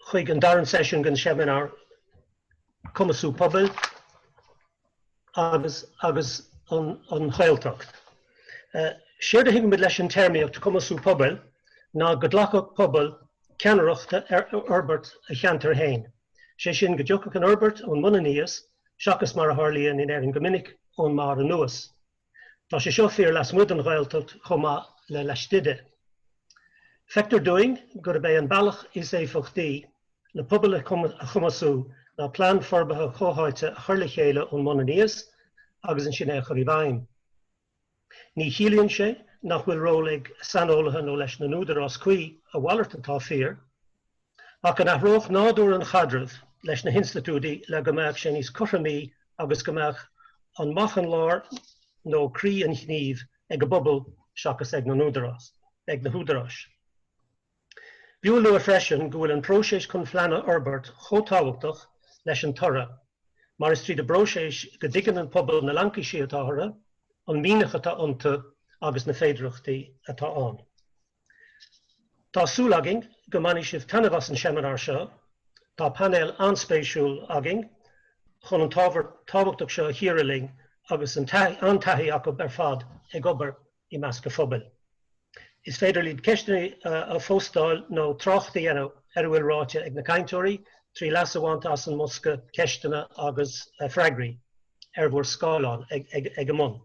chuig an darna seisiún den seimineár Cumasú Pobail agus an Ghaeltacht. Séard a thuigimid leis an téarmaíocht Cumasú Pobail ná go glacfadh pobal ceannaireacht ar fhorbairt a cheantair féin, sé sin go dtiocfadh an fhorbairt ón mbun aníos seachas mar a tharlaíonn in Éirinn go minic, ón mbarr anuas. Tá sé seo fíor lasmuigh den Ghaeltacht chomh maith le laistigh di. Feictear dúinn gurb é an bealach is éifeachtaí le pobail a chumasú ná plean forbartha comhtháite a chur le chéile ón mbun aníos agus ansin é a chur i bhfeidhm. Ní chiallaíonn sé nach bhfuil ról ag saineolaithe nó leis na húdaráis cuí, a mhalairt atá fíor, ach go n-athródh nádúr an chaidrimh leis na hinstitiúidí le go mbeadh sé níos cothromaí agus go mbeadh an, an lár nó croí an ghnímh ag an bpobal seachas ag na húdaráis. B'fhiú a lua freisin go bhfuil an próiseas chun plean a fhorbairt chomh tábhachtach leis an toradh mar is tríd an bpróiseas go dtuigeann an pobal na laincisí atá orthu, an mianach atá iontu agus na féidearthachtaí atá ann. Tá súil againn go mbainfidh sibh taitneamh as an seimineár seo. Tá painéal an-spéisiúil againn chun an t-ábhar tábhachtach seo a chíoradh linn agus an-taithí acu ar fad ag obair i measc an phobail. Is féidir libh ceisteanna a phóstáil nó trácht a dhéanamh ar a bhfuil ráite ag na cainteoirí trí leas a bhaint as an mbosca ceisteanna agus freagraí ar bhur scáileán ag an mbun.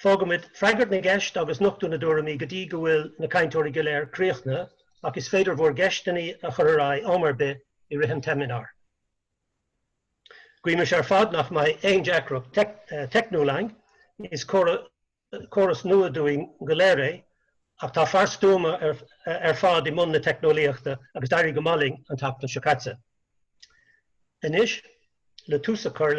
Fágfaimid freagairt na gceist agus nochtú na dtuairimí go dtí go bhfuil na cainteoirí go léir críochnaithe ach is féidir bhur gceisteanna a chur ar aghaidh am ar bith i rith an tseimineáir. Guímid ar fad nach mbeidh aon deacracht teicniúil ann, is córas nua dúinn go léir é ach tá fear stuama ar fad i mbun na teicneolaíochta agus d'éirigh go maith linn an tseachtain seo caite. Anois, le tús a chur